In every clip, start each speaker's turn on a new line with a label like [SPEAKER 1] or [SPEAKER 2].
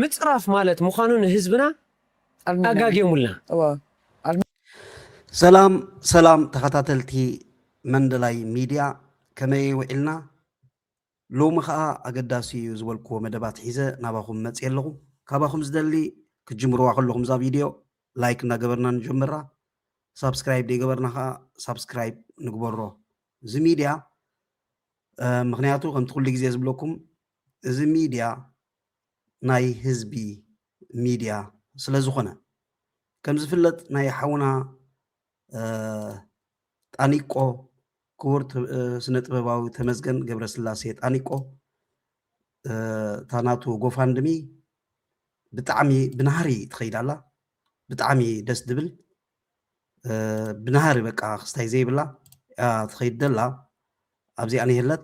[SPEAKER 1] ምጽራፍ ማለት ምዃኑ ንህዝብና ኣጋግዮሙልና።
[SPEAKER 2] ሰላም ሰላም ተኸታተልቲ መንደላይ ሚድያ ከመይ ውዒልና ሎሚ ኸኣ ኣገዳሲ እዩ ዝበልክዎ መደባት ሒዘ ናባኹም መጽየ ኣለኹ ካባኹም ዝደሊ ክትጅምርዋ ከለኹም እዛ ቪድዮ ላይክ እናገበርና ንጀምራ ሳብስክራይብ ዘይገበርና ኸኣ ሳብስክራይብ ንግበሮ እዚ ሚድያ ምክንያቱ ከምቲ ኩሉ ግዜ ዝብለኩም እዚ ሚድያ ናይ ህዝቢ ሚድያ ስለዝኾነ ከምዝፍለጥ ናይ ሓውና ጣኒቆ ክቡር ስነ ጥበባዊ ተመስገን ገብረስላሴ ጣኒቆ እታ ናቱ ጎፋንድሚ ብጣዕሚ ብናህሪ ትኸይድ ኣላ ብጣዕሚ ደስ ድብል ብናህሪ በቃ ክስታይ ዘይብላ ትኸይድ ደላ ኣብዚኣ ንሄለት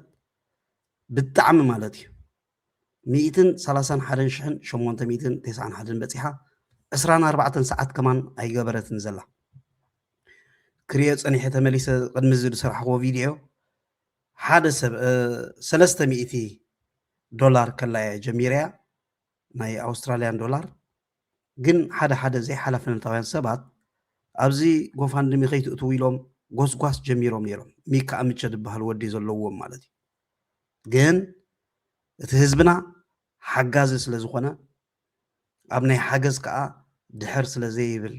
[SPEAKER 2] ብጣዕሚ ማለት እዩ ሚእትን ሰላሳን ሓደን ሽሕን ሸሞንተ ሚእትን ቴስዓን ሓደን በጺሓ ዕስራን ኣርባዕተን ሰዓት ከማን ኣይገበረትን ዘላ ክሪኦ ጸኒሐ ተመሊሰ ቅድሚ እዚ ዝሰራሕክዎ ቪድዮ ሓደ ሰብ ሰለስተ ሚእቲ ዶላር ከላያ ጀሚረያ ናይ ኣውስትራልያን ዶላር ግን ሓደ ሓደ ዘይሓላፍነታውያን ሰባት ኣብዚ ጎፋንድሚ ከይትእትው ኢሎም ጎስጓስ ጀሚሮም ነይሮም ሚካ ኣምቸ ዝበሃል ወዲ ዘለዎም ማለት እዩ ግን እቲ ህዝብና ሓጋዚ ስለ ዝኾነ ኣብ ናይ ሓገዝ ከኣ ድሕር ስለ ዘይብል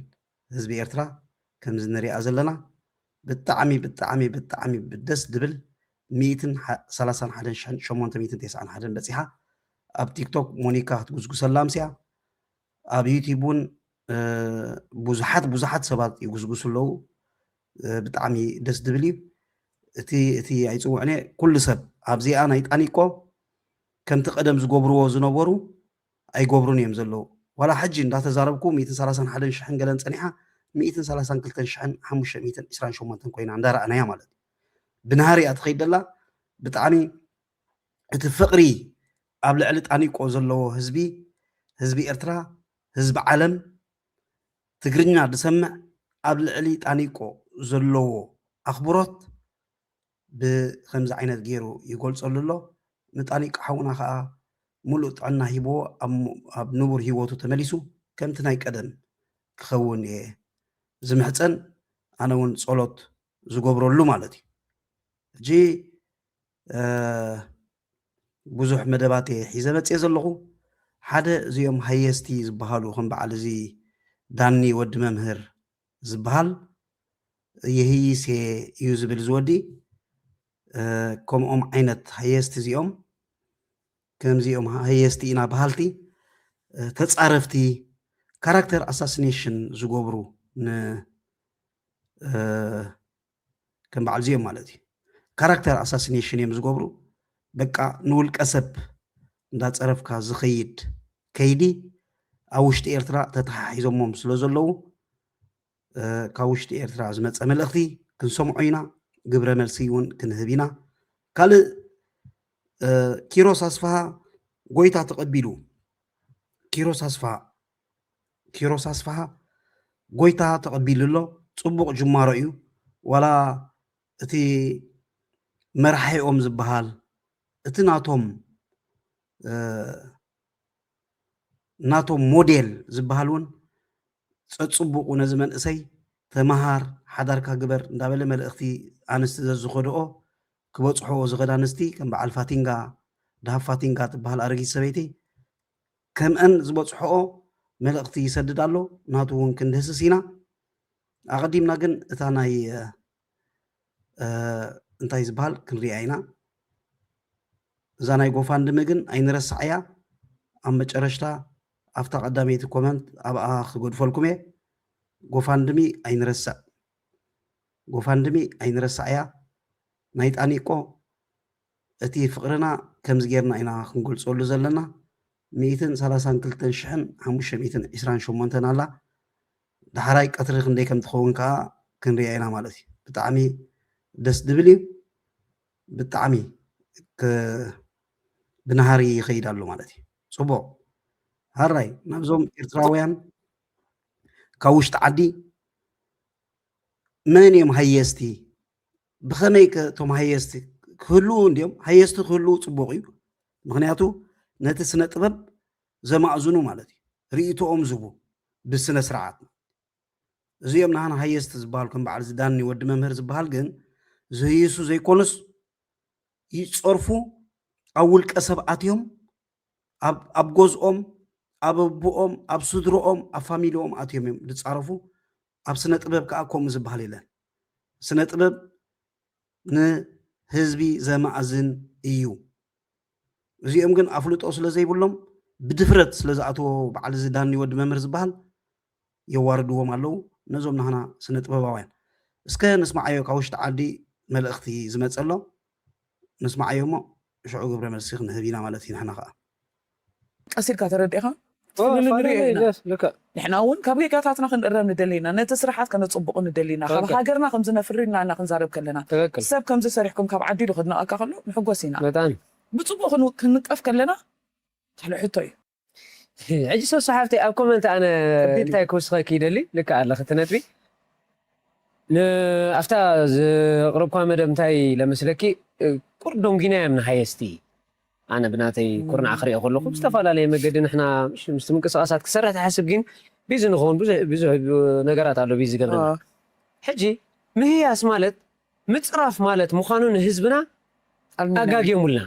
[SPEAKER 2] ህዝቢ ኤርትራ ከምዚ ንሪኣ ዘለና ብጣዕሚ ብጣዕሚ ብጣዕሚ ደስ ድብል ሚእትን ሰላሳን ሓደን ሸሞንተ ሚእትን ቴስዓን ሓደን በጺሓ ኣብ ቲክቶክ ሞኒካ ክትጉስጉሰላ ኣምሲኣ ኣብ ዩቲብ እውን ብዙሓት ብዙሓት ሰባት ይጉስጉሱ ኣለዉ ብጣዕሚ ደስ ዝብል እዩ እቲ እቲ ኣይፅውዕነ ኩሉ ሰብ ኣብዚኣ ናይ ጣኒቆ ከምቲ ቀደም ዝገብርዎ ዝነበሩ ኣይገብሩን እዮም ዘለዉ ዋላ ሕጂ እንዳተዛረብኩ ሚእትን ሰላሳን ሓደን ሽሕን ገለን ፀኒሓ ሚእትን ሰላሳን ክልተን ሽሕን ሓሙሽተ ሚእትን ዕስራን ሸሞንተን ኮይና እንዳረኣናያ ማለት እዩ ብናሃሪ እያ ትኸይድ ደላ ብጣዕሚ እቲ ፍቕሪ ኣብ ልዕሊ ጣኒቆ ዘለዎ ህዝቢ ህዝቢ ኤርትራ ህዝቢ ዓለም ትግርኛ ድሰምዕ ኣብ ልዕሊ ጣኒቆ ዘለዎ ኣኽብሮት ብኸምዚ ዓይነት ጌሩ ይገልጸሉ ኣሎ ንጣኒቆ ሓውና ከኣ ምሉእ ጥዕና ሂብዎ ኣብ ንቡር ሂወቱ ተመሊሱ ከምቲ ናይ ቀደም ክኸውን እየ ዝምሕጸን ኣነ ውን ጸሎት ዝገብረሉ ማለት እዩ ሕጂ ብዙሕ መደባት እየ ሒዘ መፅየ ዘለኹ ሓደ እዚኦም ሃየስቲ ዝበሃሉ ከም በዓል እዚ ዳኒ ወዲ መምህር ዝበሃል የህይስ እየ እዩ ዝብል ዝወዲ ከምኦም ዓይነት ሃየስቲ እዚኦም ከምዚኦም ሃየስቲ ኢና በሃልቲ ተፃረፍቲ ካራክተር ኣሳሲኔሽን ዝገብሩ ን ከም በዓል ዚኦም ማለት እዩ ካራክተር ኣሳሲኔሽን እዮም ዝገብሩ በቃ ንውልቀ ሰብ እንዳፀረፍካ ዝኸይድ ከይዲ ኣብ ውሽጢ ኤርትራ ተተሓሒዞሞም ስለ ዘለዉ ካብ ውሽጢ ኤርትራ ዝመፀ መልእኽቲ ክንሰምዖ ኢና ግብረ መልሲ እውን ክንህብ ኢና ካልእ ኪሮስ ኣስፋሃ ጎይታ ተቐቢሉ ኪሮስ ኣስፋሃ ኪሮስ ኣስፍሃ ጎይታ ተቐቢሉ ኣሎ ጽቡቕ ጅማሮ እዩ ዋላ እቲ መራሒኦም ዝበሃል እቲ ናቶም ናቶም ሞዴል ዝበሃል እውን ጸጽቡቑ ነዚ መንእሰይ ተመሃር ሓዳርካ ግበር እንዳበለ መልእኽቲ ኣንስቲ ዘዝኸድኦ ክበጽሖ ዝኸዳ ኣንስቲ ከም በዓል ፋቲንጋ ድሃብ ፋቲንጋ ትበሃል ኣረጊት ሰበይቲ ከምእን ዝበጽሖኦ መልእኽቲ ይሰድድ ኣሎ ናቱ ውን ክንድህስስ ኢና ኣቐዲምና ግን እታ ናይ እንታይ ዝበሃል ክንሪኣ ኢና እዛ ናይ ጎፋንድሚ ግን ኣይንረስዓያ ኣብ መጨረሽታ ኣብታ ቀዳመይቲ ኮመንት ኣብኣ ክገድፈልኩም እየ ጎፋንድሚ ኣይንረስዕ ጎፋንድሚ ኣይንረስዓያ ናይ ጣኒቆ እቲ ፍቕርና ከምዚ ጌርና ኢና ክንገልጸሉ ዘለና፣ ሚእትን ሰላሳን ክልተን ሽሕን ሓሙሽተ ሚእትን ዕስራን ሸሞንተን ኣላ፣ ዳሕራይ ቀትሪ ክንደይ ከም ትኸውን ከኣ ክንሪኣ ኢና ማለት እዩ። ብጣዕሚ ደስ ድብል እዩ፣ ብጣዕሚ ከ ብናሃሪ ይኸይድ ኣሎ ማለት እዩ። ጽቡቕ ሃራይ ናብዞም ኤርትራውያን ካብ ውሽጢ ዓዲ መን እዮም ሃየስቲ ብኸመይ ከ እቶም ሃየስቲ ክህልው እንዲዮም ሃየስቲ ክህልው ፅቡቕ እዩ ምክንያቱ ነቲ ስነ ጥበብ ዘማእዝኑ ማለት እዩ ርእቶኦም ዝቡ ብስነ ስርዓት እዚኦም ንሃና ሃየስቲ ዝበሃል ከም በዓል ዝዳኒ ወዲ መምህር ዝበሃል ግን ዝህይሱ ዘይኮኑስ ይፀርፉ ኣብ ውልቀ ሰባት እዮም ኣብ ጎዝኦም ኣብ ኣቦኦም ኣብ ስድሮኦም ኣብ ፋሚሊኦም ኣትዮም እዮም ዝፃረፉ ኣብ ስነ ጥበብ ከኣ ከምኡ ዝበሃል የለን። ስነ ጥበብ ንህዝቢ ዘማእዝን እዩ። እዚኦም ግን ኣፍልጦ ስለ ዘይብሎም ብድፍረት ስለ ዝኣትዎ በዓል እዚ ዳኒ ወዲ መምህር ዝበሃል የዋርድዎም ኣለዉ ነዞም ናህና ስነ ጥበባውያን። እስከ ንስምዓዮ ካብ ውሽጢ ዓዲ መልእኽቲ ዝመጸ ኣሎ ንስምዓዮ እሞ ሽዑ ግብረ መልሲ ክንህብ ኢና ማለት እዩ ንሕና ከኣ። ቀስ
[SPEAKER 3] ኢልካ ተረዲእኻ ክትፍልል ንሪኦ
[SPEAKER 1] ኢና። ንሕና እውን
[SPEAKER 3] ካብ ጌጋታትና ክንእረም ንደሊ ኢና፣ ነቲ ስርሓት ከነጽቡቑ ንደሊ ኢና፣ ካብ ሃገርና ከምዚ ነፍሪ ኢልና እና ክንዛረብ ከለና፣ ሰብ ከምዚ ሰሪሕኩም ካብ ዓዲ ኢሉ ከድንቐካ ከሎ ንሕጎስ ኢና። ብጽቡቕ ክንንቀፍ ከለና ካልእ ሕቶ እዩ። ሕጂ
[SPEAKER 1] ሶሱ ሓፍተይ ኣብ ኮመንት ኣነ እንታይ ክውስኸኪ ይደሊ ልክዕ ኣለኺ እቲ ነጥቢ ን ኣፍታ ዘቕረብክዋ መደብ እንታይ ኢለ መስለኪ ቁርዶንጊና እዮም ንሃየስቲ ኣነ ብናተይ ኩርናዕ ክሪኦ ከለኩ ብዝተፋላለየ መገዲ ንሕና ምስቲ ምንቅስቃሳት ክሰርሕ ትሓስብ ግን ቢዚ ንከውን ብዙሕ ብዙሕ ነገራት ኣሎ ቢዚ ዝገብረና ሕጂ ምህያስ ማለት ምጽራፍ ማለት ምዃኑ ንህዝብና ኣጋግዮሙልና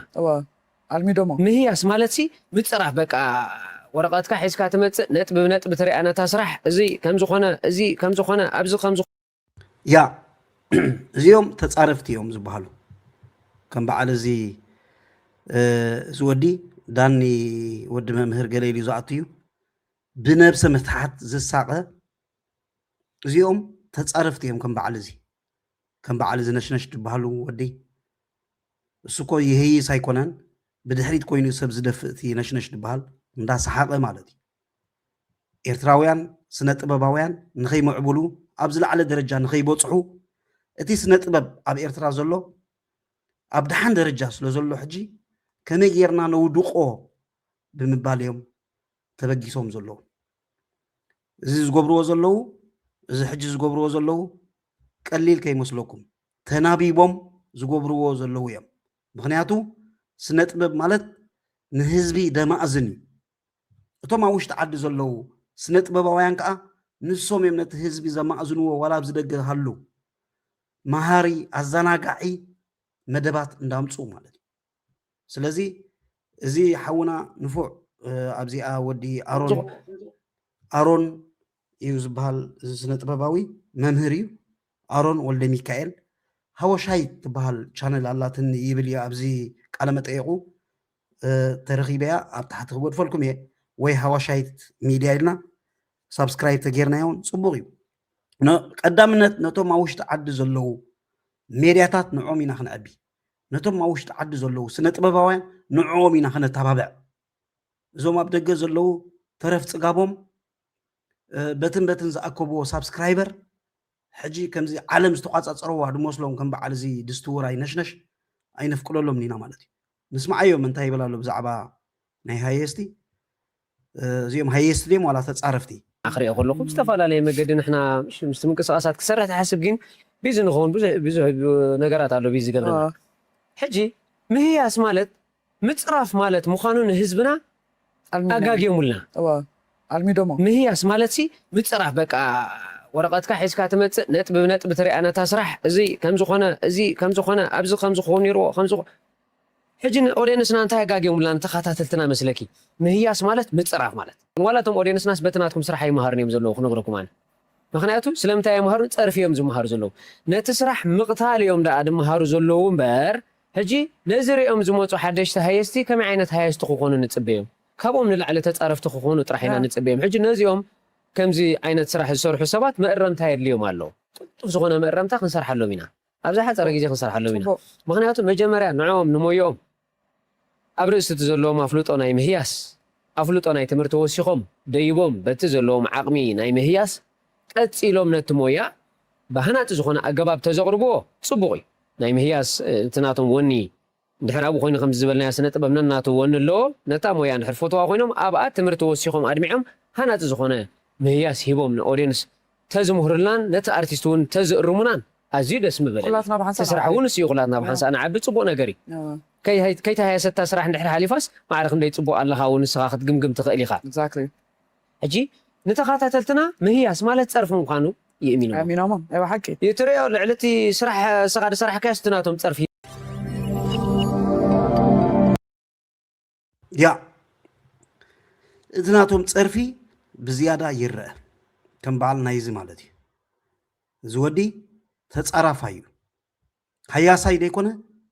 [SPEAKER 1] ኣልሚዶሞ
[SPEAKER 3] ምህያስ ማለት
[SPEAKER 1] ሲ ምጽራፍ በቃ ወረቀትካ ሒዝካ ትመጽእ ነጥቢ ብነጥቢ ትሪኣ ነታ ስራሕ እዚ ከምዚ ኮነ እዚ ከምዚ ኮነ ኣብዚ ከምዚ ያ
[SPEAKER 2] እዚኦም ተፃረፍቲ እዮም ዝበሃሉ ከም በዓል እዚ እዚ ወዲ ዳኒ ወዲ መምህር ገለ ኢሉ ዝኣቱ እዩ ብነብሰ ምትሓት ዝሳቐ እዚኦም ተፃረፍቲ እዮም ከም በዓል እዚ ከም በዓል እዚ ነሽነሽ ዝበሃሉ ወዲ እሱ እኮ ይህይስ ኣይኮነን ብድሕሪት ኮይኑ ሰብ ዝደፍእ እቲ ነሽነሽ ዝበሃል እንዳሰሓቐ ማለት እዩ ኤርትራውያን ስነ ጥበባውያን ንኸይምዕብሉ ኣብ ዝለዓለ ደረጃ ንኸይበጽሑ እቲ ስነ ጥበብ ኣብ ኤርትራ ዘሎ ኣብ ደሓን ደረጃ ስለ ዘሎ ሕጂ ከመይ ጌርና ነውድቆ ብምባል እዮም ተበጊሶም ዘለዉ እዚ ዝገብርዎ ዘለዉ እዚ ሕጂ ዝገብርዎ ዘለዉ ቀሊል ከይመስለኩም ተናቢቦም ዝገብርዎ ዘለዉ እዮም ምክንያቱ ስነ ጥበብ ማለት ንህዝቢ ደማእዝን እዩ እቶም ኣብ ውሽጢ ዓዲ ዘለዉ ስነጥበባውያን ከኣ ንሶም እዮም ነቲ ህዝቢ ዘማእዝንዎ ዋላ ኣብዚ ደገ ሃሉ መሃሪ ኣዘናጋዒ መደባት እንዳምጽኡ ማለት እዩ ስለዚ እዚ ሓውና ንፉዕ ኣብዚኣ ወዲ ኣሮን ኣሮን እዩ ዝበሃል እዚ ስነጥበባዊ መምህር እዩ ኣሮን ወልደሚካኤል ሃወሻይ ትበሃል ቻነል ኣላትኒ ይብል እዩ ኣብዚ ቃለመጠየቁ ተረኪበያ ኣብ ታሕቲ ክጎድፈልኩም እየ ወይ ሃዋሻይት ሚድያ ኢልና ሳብስክራይብ ተጌርናዮ እውን ፅቡቅ እዩ ቀዳምነት ነቶም ኣብ ውሽጢ ዓዲ ዘለዉ ሜድያታት ንዕኦም ኢና ክንዕቢ ነቶም ኣብ ውሽጢ ዓዲ ዘለዉ ስነ ጥበባውያን ንዕኦም ኢና ክነተባብዕ እዞም ኣብ ደገ ዘለዉ ተረፍ ፅጋቦም በትን በትን ዝኣከብዎ ሳብስክራይበር ሕጂ ከምዚ ዓለም ዝተቋጻጸረዋ ድመስሎም ከም በዓል እዚ ድስቲ ውራይ ነሽነሽ ኣይነፍቅደሎምን ኢና ማለት እዩ ንስምዓዮም እንታይ ይብል ኣሎ ብዛዕባ ናይ ሃየስቲ እዚኦም ሃየስቲ ድዮም ዋላ ተጻረፍቲ ክሪኦ ከለኹ
[SPEAKER 1] ብዝተፈላለየ መገዲ ንሕና ምስቲ ምንቅስቓሳት ክሰርሕ ትሓስብ ግን ቢዚ ንኸውን ብዙሕ ብዙሕ ነገራት ኣሎ ቢዚ ዝገብረና ሕጂ ምህያስ ማለት ምጽራፍ ማለት ምዃኑ ንህዝብና ኣጋግዮሙልና። እወ ኣልሚዶሞ።
[SPEAKER 3] ምህያስ ማለትሲ
[SPEAKER 1] ምጽራፍ በቃ ወረቐትካ ሒዝካ ትመጽእ ነጥቢ ብነጥቢ ትሪኣ ነታ ስራሕ እዚ ከምዚ ኮነ እዚ ከምዚ ኮነ ኣብዚ ከምዚ ክኸውን ኔርዎ ከምዚ ሕጂ ንኦዴንስና እንታይ ኣጋግዮሙልና ንተኻታተልትና መስለኪ ምህያስ ማለት ምጽራፍ ማለት ዋላ እቶም ኦዴንስናስ በቲ ናትኩም ስራሕ ኣይማሃሩን እዮም ዘለዉ ክነግረኩም ኣነ ምኽንያቱ ስለምንታይ ኣይማሃሩን ጸርፊ እዮም ዝማሃሩ ዘለዉ ነቲ ስራሕ ምቕታል እዮም ደኣ ድማሃሩ ዘለዉ እምበር ሕጂ ነዚ ሪኦም ዝመጹ ሓደሽቲ ሃየስቲ ከመይ ዓይነት ሃየስቲ ክኾኑ ንጽበዮም ካብኦም ንላዕሊ ተጻረፍቲ ክኾኑ ጥራሕ ኢና ንጽበዮም ሕጂ ነዚኦም ከምዚ ዓይነት ስራሕ ዝሰርሑ ሰባት መእረምታ የድልዮም ኣሎ ቅልጡፍ ዝኾነ መእረምታ ክንሰርሓሎም ኢና ኣብ ዝሓጸረ ግዜ ክንሰርሓሎም ኢና ምኽንያቱ መጀመርያ ንዕኦም ንሞዮኦም ኣብ ርእሲ እቲ ዘለዎም ኣፍልጦ ናይ ምህያስ ኣፍልጦ ናይ ትምህርቲ ወሲኾም ደይቦም በቲ ዘለዎም ዓቕሚ ናይ ምህያስ ቀጺሎም ነቲ ሞያ ብሃናጺ ዝኾነ ኣገባብ ተዘቕርብዎ ጽቡቕ እዩ። ናይ ምህያስ እቲ ናቶም ወኒ ድሕር ኣብኡ ኮይኑ ከምዚ ዝበልናዮ ስነ ጥበብ ነናቱ ወኒ ኣለዎ ነታ ሞያ እንድሕር ፈትዋ ኮይኖም ኣብኣ ትምህርቲ ወሲኾም ኣድሚዖም ሃናጺ ዝኾነ ምህያስ ሂቦም ን ኦድየንስ ተዝምህሩልናን ነቲ ኣርቲስት ውን ተዝእርሙናን ኣዝዩ ደስ ምበለኒ ኩላትና ብሓንሳእ እቲ ስራሕ ንዓቢ ውን እሱዩ ኩላትና ብሓንሳእ ንዓቢ ጽቡቅ ነገር እዩ እወ ከይተሃየሰት እታ ስራሕ እንድሕር ሓሊፋስ ማዕረ ክንደይ ጽቡቅ ኣለኻ ውን ንስኻ ክትግምግም ትኽእል ኢኻ። Exactly። ሕጂ ንተኻታተልትና ምህያስ ማለት ጸርፊ ምዃኑ ይእሚንዎ። ኣእሚኖሞ ናይ ብሓቂ። እዩ ትርእዮ ልዕሊ እቲ ስራሕ እስኻ ዝሰራሕካዮስ እቲ ናቶም ጸርፊ።
[SPEAKER 2] ያ እቲ ናቶም ጸርፊ ብዝያዳ ይረኣ ከም በዓል ናይዚ ማለት እዩ። እዚ ወዲ ተጻራፋይ እዩ ሃያሳይ ዘይኮነ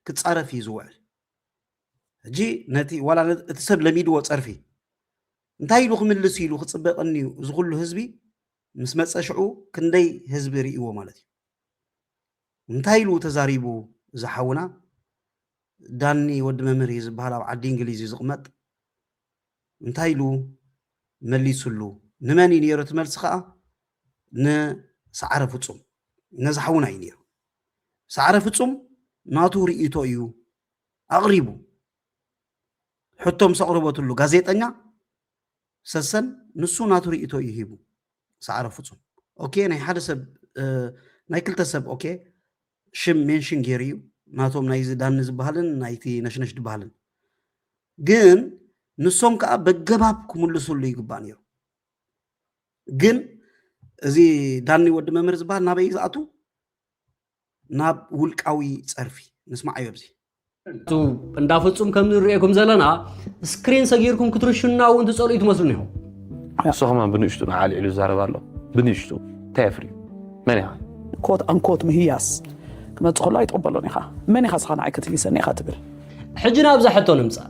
[SPEAKER 2] ክጻረፍ እዩ ዝውዕል። ሕጂ ነቲ ዋላ እቲ ሰብ ለሚድዎ ጸርፊ እንታይ ኢሉ ክምልስ ኢሉ ክጽበ ቀንዩ እዚ ኩሉ ህዝቢ ምስ መጸ ሽዑ ክንደይ ህዝቢ ሪኢዎ ማለት እዩ እንታይ ኢሉ ተዛሪቡ እዚ ሓውና ዳኒ ወዲ መምህር እዩ ዝበሃል ኣብ ዓዲ እንግሊዝ እዩ ዝቕመጥ እንታይ ኢሉ መሊሱሉ ንመን እዩ ነይሩ እቲ መልሲ ከዓ ንሰዓረ ፍፁም ነዚ ሓውና እዩ ነይሩ ሰዓረ ፍፁም ናቱ ርእይቶ እዩ ኣቕሪቡ ሕቶ ምስ ኣቕረበትሉ ጋዜጠኛ ሰሰን ንሱ ናቱ ርእቶ እዩ ሂቡ ሰዓረ ፍፁም ኦኬ ናይ ሓደ ሰብ ናይ ክልተ ሰብ ኦኬ ሽም ሜንሽን ገይሩ እዩ ናቶም ናይዚ ዳኒ ዝበሃልን ናይቲ ነሽነሽ ዝበሃልን ግን ንሶም ከዓ በገባብ ክምልስሉ ይግባእ ነይሩ ግን እዚ ዳኒ ወዲ መምህር ዝበሃል ናበይ ዝኣቱ ናብ ውልቃዊ ጸርፊ ንስማዓዮ ኣብዚ እንዳ
[SPEAKER 4] ፍጹም ከም ንርእየኩም ዘለና ስክሪን ሰጊርኩም ክትርሹና እውን ትጸልኡ ትመስሉ ኒኹም ንስኹም
[SPEAKER 5] ብንእሽቱ ንዓልዒሉ ዝዛረብ ኣሎ ብንእሽቱ እንታይ የፍርዩ መን ኢኻ ኮት ኣንኮት
[SPEAKER 3] ምህያስ ክመፅ ከሎ ኣይትቕበሎን ኢኻ መን ኢኻ ስኻ ንዓይ ክትህይሰኒ ኢኻ ትብል ሕጂ ናብዛ
[SPEAKER 4] ሕቶ ንምፃእ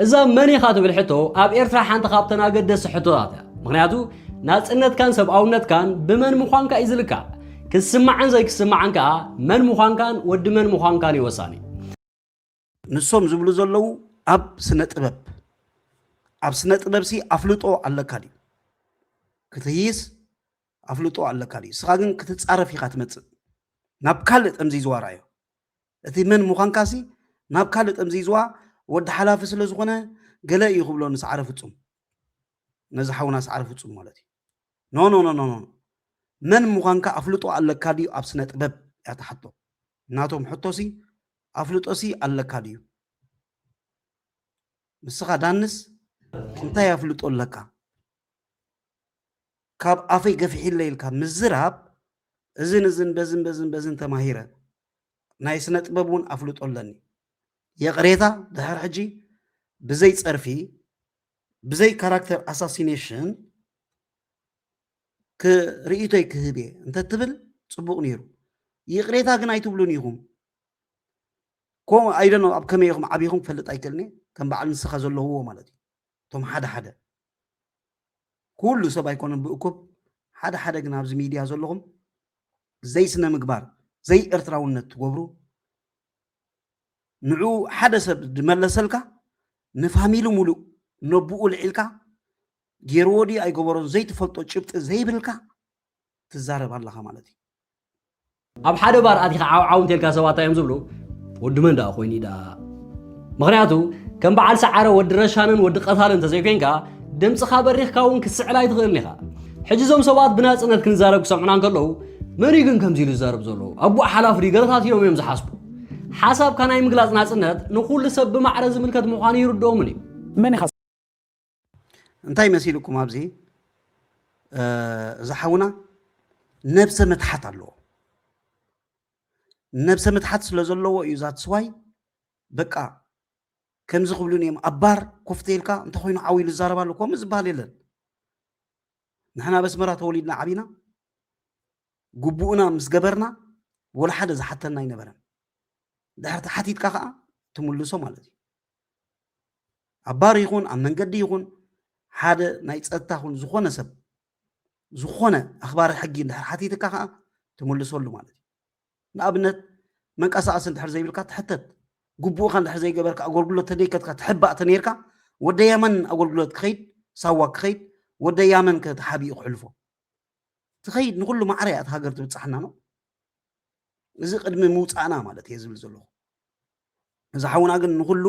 [SPEAKER 4] እዛ መን ኢኻ ትብል ሕቶ ኣብ ኤርትራ ሓንቲ ካብተን ኣገደስቲ ሕቶታት እያ ምክንያቱ ናፅነትካን ሰብኣውነትካን ብመን ምዃንካ እዩ ዝልካዕ ክስማዕን ዘይክስማዕን ከኣ መን ምዃንካን ወዲ መን ምዃንካን እዩ ወሳኒ።
[SPEAKER 2] ንሶም ዝብሉ ዘለዉ ኣብ ስነ ጥበብ ኣብ ስነ ጥበብ ሲ ኣፍልጦ ኣለካ ድዩ ክትህይስ ኣፍልጦ ኣለካ ድዩ ስኻ ግን ክትፃረፍ ኢኻ ትመፅእ ናብ ካልእ ጠምዚዝዋ ርኣዮ እቲ መን ምዃንካ ሲ ናብ ካልእ ጠምዚዝዋ ወዲ ሓላፊ ስለ ዝኾነ ገለ እዩ ክብሎ ንሰዓረ ፍፁም ነዚ ሓውና ሰዓረ ፍፁም ማለት እዩ ኖኖኖኖኖ መን ምዃንካ ኣፍልጦ ኣለካ ድዩ ኣብ ስነ ጥበብ እያ እታ ሕቶ ናቶም ሕቶ ሲ ኣፍልጦ ሲ ኣለካ ድዩ ንስኻ ዳንስ እንታይ ኣፍልጦ ኣለካ ካብ ኣፈይ ገፊሒለ ኢልካ ምዝራብ እዝን እዝን በዝን በዝን በዝን ተማሂረ ናይ ስነ ጥበብ እውን ኣፍልጦ ኣለኒ የቕሬታ ድሕር ሕጂ ብዘይ ጸርፊ ብዘይ ካራክተር ኣሳሲኔሽን ርእይቶይ ክህብ እየ እንተትብል ፅቡቅ ነይሩ ይቅሬታ ግን ኣይትብሉን ኢኹም ኮ ኣይደኖ ኣብ ከመይ ኢኹም ዓብኹም ክፈልጥ ኣይክእልኒ ከም በዓል ንስኻ ዘለውዎ ማለት እዩ እቶም ሓደ ሓደ ኩሉ ሰብ ኣይኮነን ብእኩብ ሓደ ሓደ ግን ኣብዚ ሚድያ ዘለኹም ዘይስነ ምግባር ዘይኤርትራውነት ትገብሩ ንዑ ሓደ ሰብ ድመለሰልካ ንፋሚሊ ሙሉእ ነቡኡ ልዒልካ ጌርዎ ድዩ ኣይገበሮን ዘይትፈልጦ ጭብጢ ዘይብልካ ትዛረብ ኣለኻ ማለት እዩ። ኣብ
[SPEAKER 4] ሓደ ባር ኣቲኻ ዓው ዓው እንተልካ ሰባት እንታይ እዮም ዝብሉ ወዲ መን ደኣ ኮይኑ ደኣ ምክንያቱ ከም በዓል ሰዓረ ወዲ ረሻንን ወዲ ቀታልን እንተዘይኮይንካ ድምፅኻ በሪኽካ እውን ክትስዕል ኣይትኽእልን ኢኻ ሕጂ እዞም ሰባት ብናጽነት ክንዛረብ ክሰምዑና እንከለዉ መን እዩ ግን ከምዚ ኢሉ ዝዛረብ ዘሎ ኣቡእ ሓላፍ ድዩ ገለታት ኢሎም እዮም ዝሓስቡ ሓሳብካ ናይ ምግላጽ ናጽነት ንኹሉ ሰብ ብማዕረ ዝምልከት ምዃኑ ይርድኦምን እዩ መን ኢኻ
[SPEAKER 2] እንታይ መሲልኩም ኣብዚ እዚ ሓውና ነብሰ ምትሓት ኣለዎ ነብሰ ምትሓት ስለ ዘለዎ እዩ ዛት ስዋይ በቃ ከምዚ ክብሉን እዮም ኣባር ኮፍተ ኢልካ እንተኮይኑ ዓው ኢሉ ዝዛረብ ኣሎ ከምኡ ዝበሃል የለን ንሕና ኣብ ኣስመራ ተወሊድና ዓቢና ግቡእና ምስ ገበርና ወላ ሓደ ዝሓተና ኣይነበረን ድሕር ተሓቲትካ ከዓ ትምልሶ ማለት እዩ ኣብ ባር ይኹን ኣብ መንገዲ ይኹን ሓደ ናይ ፀጥታ ኹን ዝኾነ ሰብ ዝኾነ ኣኽባሪ ሕጊ እንድሕር ሓቲትካ ከዓ ትምልሰሉ ማለት እዩ ንኣብነት መንቀሳቐሲ እንድሕር ዘይብልካ ትሕተት፣ ግቡእኻ እንድሕር ዘይገበርካ ኣጎልጉሎት ተደይከትካ ትሕባእ ተነይርካ ወደ የመን ኣጎልጉሎት ክኸይድ ሳዋ ክኸይድ ወደ ያመን ከ ተሓቢኡ ክሕልፎ ትኸይድ ንኹሉ ማዕረ እያ እቲ ሃገር ትብጻሕና ነው እዚ ቅድሚ ምውፃእና ማለት እየ ዝብል ዘለኹ እዚ ሓውና ግን ንኩሉ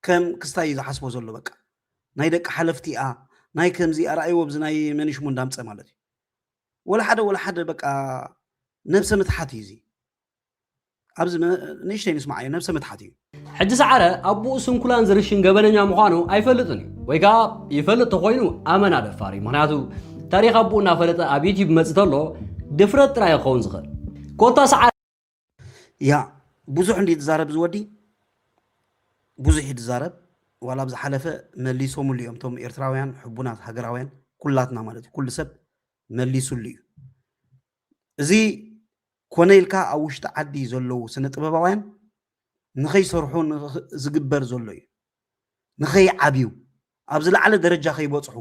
[SPEAKER 2] ከም ክስታይ እዩ ዝሓስቦ ዘሎ በቃ ናይ ደቂ ሓለፍቲ እያ ናይ ከምዚ ኣርኣይዎ ብዚ ናይ መንሽሙ እንዳምፀ ማለት እዩ ወላሓደ ወላሓደ በቃ ነብሰ ምትሓት እዩ እዚ ኣብዚ ንእሽተይ ንስማዓዮ ነብሰ ምትሓት እዩ። ሕጂ ሰዓረ
[SPEAKER 4] ኣቡኡ ስንኩላን ዝርሽን ገበነኛ ምዃኑ ኣይፈልጥን እዩ ወይ ከኣ ይፈልጥ ተኾይኑ ኣመና ደፋር እዩ ምክንያቱ ታሪኽ ኣቡኡ እናፈለጠ ኣብ ዩቲዩብ መጽእ ተሎ ድፍረት ጥራይ ክኸውን ዝኽእል ኮታ ሰዓረ ያ
[SPEAKER 2] ብዙሕ እንዲ ዝዛረብ እዚ ወዲ ብዙሕ እዩ ዝዛረብ ዋላ ኣብ ዝሓለፈ መሊሶምሉ እዮም እቶም ኤርትራውያን ሕቡናት ሃገራውያን ኩላትና ማለት እዩ ኩሉ ሰብ መሊሱሉ እዩ እዚ ኮነ ኢልካ ኣብ ውሽጢ ዓዲ ዘለዉ ስነ ጥበባውያን ንኸይሰርሑ ዝግበር ዘሎ እዩ ንኸይዓብዩ ኣብ ዝለዓለ ደረጃ ከይበፅሑ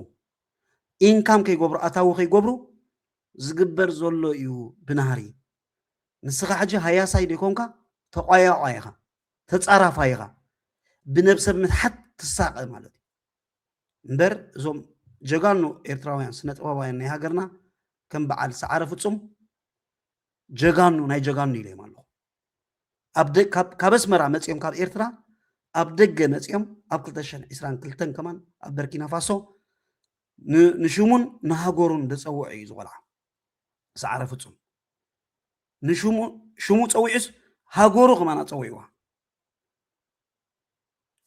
[SPEAKER 2] ኢንካም ከይገብሩ ኣታዊ ከይገብሩ ዝግበር ዘሎ እዩ ብናህሪ ንስኻ ሕጂ ሃያሳይ ደይኮንካ ተቋያቋይ ኢኻ ተጻራፋይ ኢኻ ብነብሰ ምትሓት ትሳቀ ማለት እዩ እምበር እዞም ጀጋኑ ኤርትራውያን ስነ ጥበባውያን ናይ ሃገርና ከም በዓል ሰዓረ ፍጹም ጀጋኑ ናይ ጀጋኑ ኢለዮም ኣለኹ ካብ ኣስመራ መፅኦም ካብ ኤርትራ ኣብ ደገ መፅኦም ኣብ 222 ከማን ኣብ በርኪና ፋሶ ንሽሙን ንሃገሩን ዝፀውዐ እዩ ዝቆልዓ ሰዓረ ፍጹም ንሽሙ ሽሙ ጸዊዑስ ሃገሩ ከማን ኣጸዊዕዋ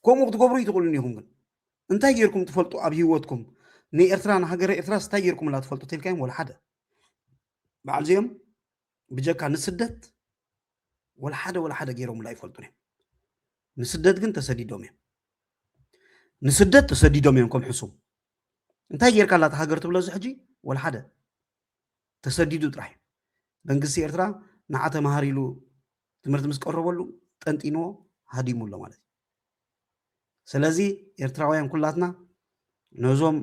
[SPEAKER 2] ከምኡ ክትገብሩ ይትኽእሉን ኢኹም ግን እንታይ ጌርኩም ትፈልጡ ኣብ ህይወትኩም ንኤርትራ ንሃገረ ኤርትራ ስታይ ጌርኩምላ ትፈልጡ ተልካዮም ወላ ሓደ በዓል እዚኦም ብጀካ ንስደት ወላ ሓደ ወላ ሓደ ገይሮምላ ይፈልጡን እዮም ንስደት ግን ተሰዲዶም እዮም ንስደት ተሰዲዶም እዮም ከም ሕሱም እንታይ ጌርካ ኣላ ሃገር ትብሎ እዚ ሕጂ ወልሓደ ተሰዲዱ ጥራሕ መንግስቲ ኤርትራ ንዓ ተምሃር ኢሉ ትምህርቲ ምስ ቀረበሉ ጠንጢንዎ ሃዲሙ ኣሎ ማለት እዩ ስለዚ ኤርትራውያን ኩላትና ነዞም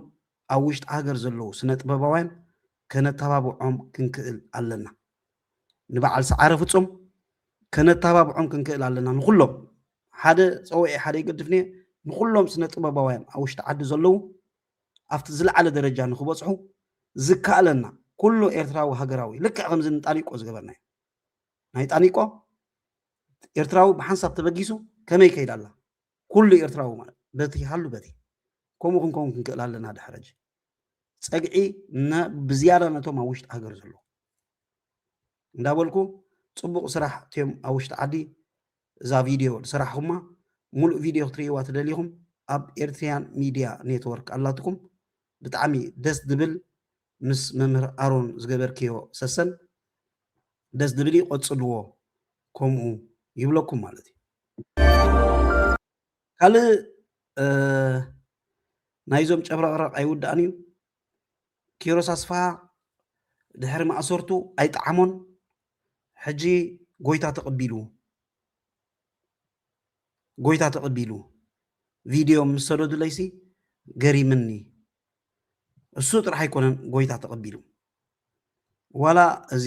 [SPEAKER 2] ኣብ ውሽጢ ሃገር ዘለዉ ስነ ጥበባውያን ከነተባብዖም ክንክእል ኣለና ንበዓል ሰዓረ ፍጹም ከነተባብዖም ክንክእል ኣለና ንኹሎም ሓደ ጸውዒ ሓደ ይገድፍኒ ንኹሎም ስነ ጥበባውያን ኣብ ውሽጢ ዓዲ ዘለዉ ኣብቲ ዝለዓለ ደረጃ ንክበጽሑ ዝከኣለና ኩሉ ኤርትራዊ ሃገራዊ ልክዕ ከምዚ ንጣኒቆ ዝገበርናዮ ናይ ጣኒቆ ኤርትራዊ ብሓንሳብ ተበጊሱ ከመይ ከይዳ ኣላ ኩሉ ኤርትራዊ ማለት በቲ ሃሉ በቲ ከምኡ ክንከውን ክንክእል ኣለና ድሕረጅ ፀግዒ ብዝያዳ ነቶም ኣብ ውሽጢ ሃገር ዘለዉ እንዳበልኩ ፅቡቕ ስራሕ እትዮም ኣብ ውሽጢ ዓዲ እዛ ቪድዮ ዝሰራሕኹማ ሙሉእ ቪድዮ ክትርእይዋ ትደሊኹም ኣብ ኤርትሪያን ሚድያ ኔትወርክ ኣላትኩም ብጣዕሚ ደስ ድብል ምስ መምህር ኣሮን ዝገበርክዮ ሰሰን ደስ ድብል እዩ ቐፅልዎ ከምኡ ይብለኩም ማለት እዩ ካልእ ናይዞም ጨብረቕረቕ ኣይውዳእን እዩ። ኪሮስ ኣስፍሃ ድሕሪ ማእሰርቱ ኣይጠዓሞን፣ ሕጂ ጎይታ ተቐቢሉ ጎይታ ተቐቢሉ ቪድዮ ምስ ሰደዱለይሲ ገሪምኒ። እሱ ጥራሕ ኣይኮነን ጎይታ ተቐቢሉ ዋላ እዚ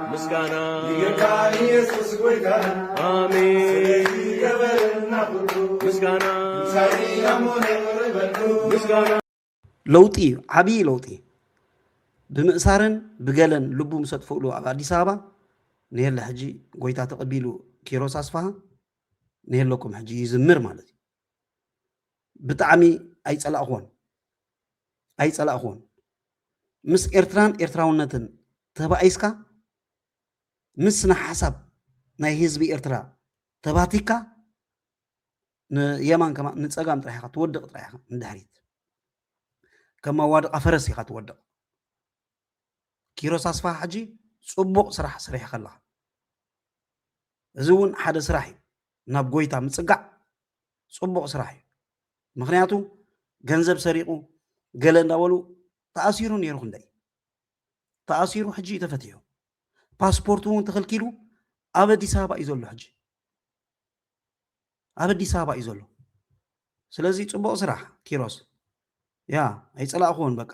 [SPEAKER 6] ምስጋና ይግብካ ኢየሱስ ጎይታና ኣሜን ስለዚ ገበረልና ኩሉ ምስጋና ትንሣኤ ኣሞ ነቕርብ በሉ ምስጋና ለውጢ
[SPEAKER 2] እዩ ዓብዪ ለውጢ እዩ ብምእሳርን ብገለን ልቡ ምስ ኣጥፍእሉ ኣብ ኣዲስ ኣበባ ንየለ ሕጂ ጎይታ ተቐቢሉ ኪሮስ ኣስፋሃ ንየለኩም ሕጂ ይዝምር ማለት እዩ ብጣዕሚ ኣይፀላእኹዎን ኣይፀላእኹዎን ምስ ኤርትራን ኤርትራውነትን ተባኢስካ፣ ምስ ስነ-ሓሳብ ናይ ህዝቢ ኤርትራ ተባቲካ፣ ንየማን ከማን ንጸጋም ጥራሕ ኢኻ ትወድቕ ጥራሕ ኢኻ ንድሕሪት። ከም መዋድቓ ፈረስ ኢኻ ትወድቕ። ኪሮስ ኣስፋሃ ሕጂ ጽቡቕ ስራሕ ሰሪሕኻ ኣለኻ። እዚ እውን ሓደ ስራሕ እዩ። ናብ ጎይታ ምጽጋዕ ጽቡቕ ስራሕ እዩ። ምክንያቱ ገንዘብ ሰሪቁ ገለ እንዳበሉ ተኣሲሩ ነይሩ ክንደይ ተኣሲሩ ሕጂ እዩ ተፈቲሑ ፓስፖርት እውን ተኸልኪሉ ኣብ ኣዲስ ኣበባ እዩ ዘሎ ሕጂ ኣብ ኣዲስ ኣበባ እዩ ዘሎ ስለዚ ፅቡቅ ስራሕ ኪሮስ ያ ኣይፀላእኹዎን በቃ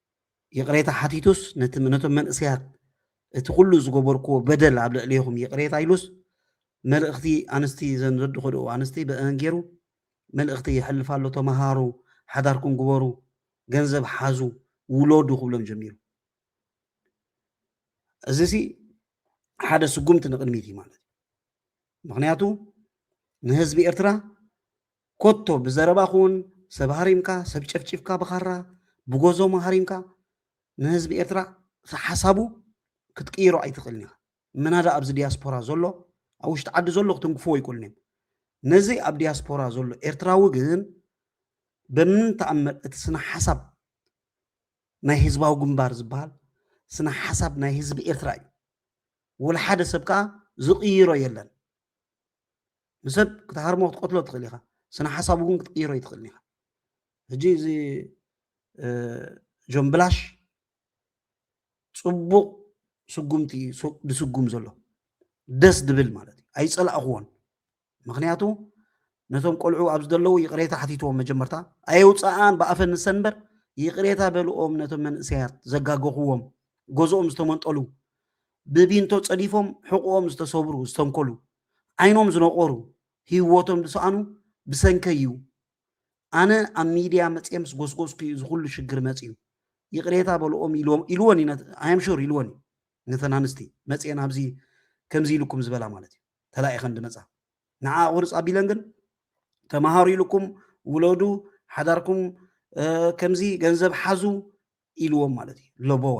[SPEAKER 2] ይቕሬታ ሓቲቱስ ነቲ ነቶም መንእሰያት እቲ ኩሉ ዝገበርክዎ በደል ኣብ ልዕሌኹም ይቕሬታ ኢሉስ መልእኽቲ ኣንስቲ ዘን ዘድኸድኡ ኣንስቲ በእን ገይሩ መልእኽቲ የሕልፍ ኣሎ ተመሃሩ ሓዳርኩም ግበሩ ገንዘብ ሓዙ ውለዱ ክብሎም ጀሚሩ እዚ ሲ ሓደ ስጉምቲ ንቕድሚት እዩ ማለት እዩ ምክንያቱ ንህዝቢ ኤርትራ ኮቶ ብዘረባኹውን ሰብ ሃሪምካ ሰብ ጨፍጪፍካ ብኻራ ብጎዞሞ ሃሪምካ ንህዝቢ ኤርትራ ሓሳቡ ክትቅይሮ ኣይትኽእልን ኢኻ ምናዳ ኣብዚ ዲያስፖራ ዞሎ ኣብ ውሽጢ ዓዲ ዞሎ ክትንክፍዎ ኣይክእሉን እዮም ነዚ ኣብ ዲያስፖራ ዞሎ ኤርትራዊ ግን በምንም ተኣምር እቲ ስነ ሓሳብ ናይ ህዝባዊ ግንባር ዝበሃል ስነ ሓሳብ ናይ ህዝቢ ኤርትራ እዩ ወላ ሓደ ሰብ ከኣ ዝቕይሮ የለን ንሰብ ክትሃርሞ ክትቀትሎ ትኽእል ኢኻ ስነ ሓሳቡ እውን ክትቅይሮ ይትኽእል ኢኻ ሕጂ እዚ ጆን ብላሽ ፅቡቕ ስጉምቲ ዝስጉም ዘሎ ደስ ድብል ማለት እዩ ኣይፀላእኽዎን ምክንያቱ ነቶም ቆልዑ ኣብ ዝደለዉ ይቕሬታ ሓቲትዎም መጀመርታ ኣየውፃኣን ብኣፈን ንሰን እምበር ይቕሬታ በልኦም ነቶም መንእሰያት ዘጋገኽዎም ገዝኦም ዝተመንጠሉ ብቢንቶ ጸዲፎም ሕቑኦም ዝተሰብሩ ዝተንኮሉ፣ ዓይኖም ዝነቖሩ፣ ሂወቶም ዝሰኣኑ ብሰንከይ'ዩ። ኣነ ኣብ ሚድያ መጽየ ምስ ጎስጎስኩ'ዩ እዚ ኩሉ ሽግር መጺኡ። ይቕሬታ በልኦም ኢልወን'ዩ ነት ኣይ ኣም ሹር ኢልወን'ዩ ነተን ኣንስቲ መጽየን ኣብዚ ከምዚ ኢሉኩም ዝበላ ማለት'ዩ ተላኢኸን ድመጻ ንዓኣ ቁርጽ ኣቢለን ግን ተማሃሩ ኢሉኩም ውለዱ ሓዳርኩም ከምዚ ገንዘብ ሓዙ ኢልዎም ማለት እዩ። ለቦዋ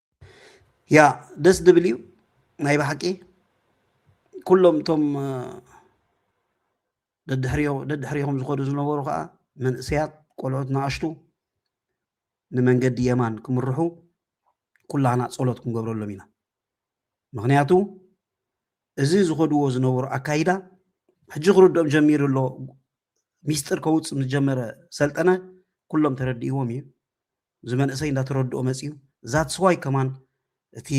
[SPEAKER 2] ያ ደስ ድብል እዩ ናይ ባሓቂ ኩሎም እቶም ደድሕሪኹም ዝኸዱ ዝነበሩ ከዓ መንእሰያት ቆልዑት ንኣሽቱ ንመንገዲ የማን ክምርሑ ኩላህና ጸሎት ክንገብረሎም ኢና ምክንያቱ እዚ ዝኸድዎ ዝነበሩ ኣካይዳ ሕጂ ክርድኦም ጀሚሩ ኣሎ ሚስጥር ከውፅ ምስ ጀመረ ሰልጠነ ኩሎም ተረዲእዎም እዩ እዚ መንእሰይ እንዳተረድኦ መፅዩ ዛትስ ዋይ ከማን እቲ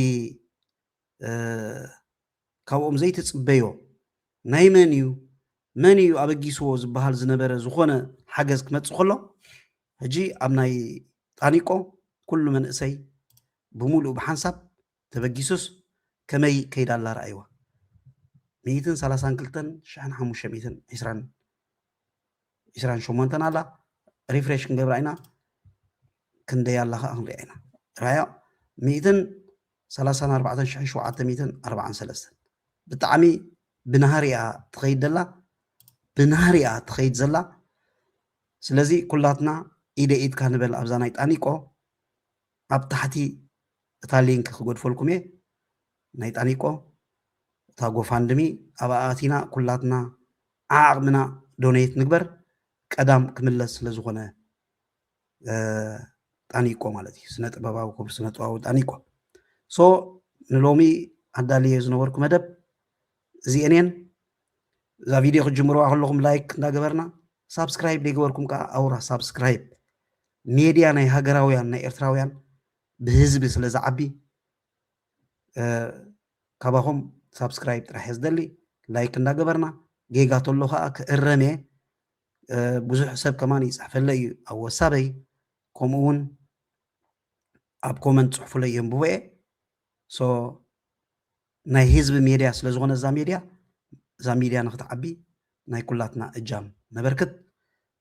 [SPEAKER 2] ካብኦም ዘይትፅበዮ ናይ መን እዩ መን እዩ ኣበጊስዎ ዝበሃል ዝነበረ ዝኾነ ሓገዝ ክመፅእ ከሎ ሕጂ ኣብ ናይ ጣኒቆ ኩሉ መንእሰይ ብምሉእ ብሓንሳብ ተበጊሱስ ከመይ ከይዳ ኣላ ርኣይዋ። ሚኢትን ሰላሳን ክልተን ሽሕን ሓሙሽተ ሚኢትን ዒስራን ዒስራን ሸሞንተን ኣላ ሪፍሬሽ ክንገብራ ኢና ክንደይ ኣላ ከዓ ክንሪኣ ኢና ራያ ሚኢትን ሰላሳን ኣርባዕተን ሽሕን ሸውዓተ ሚኢትን ኣርባዓን ሰለስተን ብጣዕሚ ብናህሪኣ ትኸይድ ደላ ብናህሪኣ ትኸይድ ዘላ ስለዚ ኩላትና ኢደ ኢድካ ንበል ኣብዛ ናይ ጣኒቆ ኣብ ታሕቲ እታ ሊንክ ክገድፈልኩም እየ ናይ ጣኒቆ እታ ጎፋንድሚ ኣብኣ ኣቲና ኩላትና ዓዓቅምና ዶነይት ንግበር ቀዳም ክምለስ ስለ ዝኮነ ጣኒቆ ማለት እዩ ስነ ጥበባዊ ክቡር ስነ ጥበባዊ ጣኒቆ ሶ ንሎሚ ኣዳልየ ዝነበርኩ መደብ እዚኤን እየን እዛ ቪድዮ ክትጅምርዋ ከለኹም ላይክ እንዳገበርና ሳብስክራይብ ዘይገበርኩም ከዓ ኣውራ ሳብስክራይብ ሜድያ ናይ ሃገራውያን ናይ ኤርትራውያን ብህዝቢ ስለ ዝዓቢ ካባኹም ሳብስክራይብ ጥራሕ እየ ዝደሊ ላይክ እንዳገበርና ጌጋ ተሎ ከዓ ክእረም እየ ብዙሕ ሰብ ከማን ይፅሕፈለይ እዩ ኣብ ወሳበይ ከምኡ እውን ኣብ ኮመንት ፅሑፉለይ የንብቦ እየ ሶ ናይ ህዝቢ ሜድያ ስለ ዝኾነ እዛ ሜድያ እዛ ሚድያ ንክትዓቢ ናይ ኩላትና እጃም ነበርክት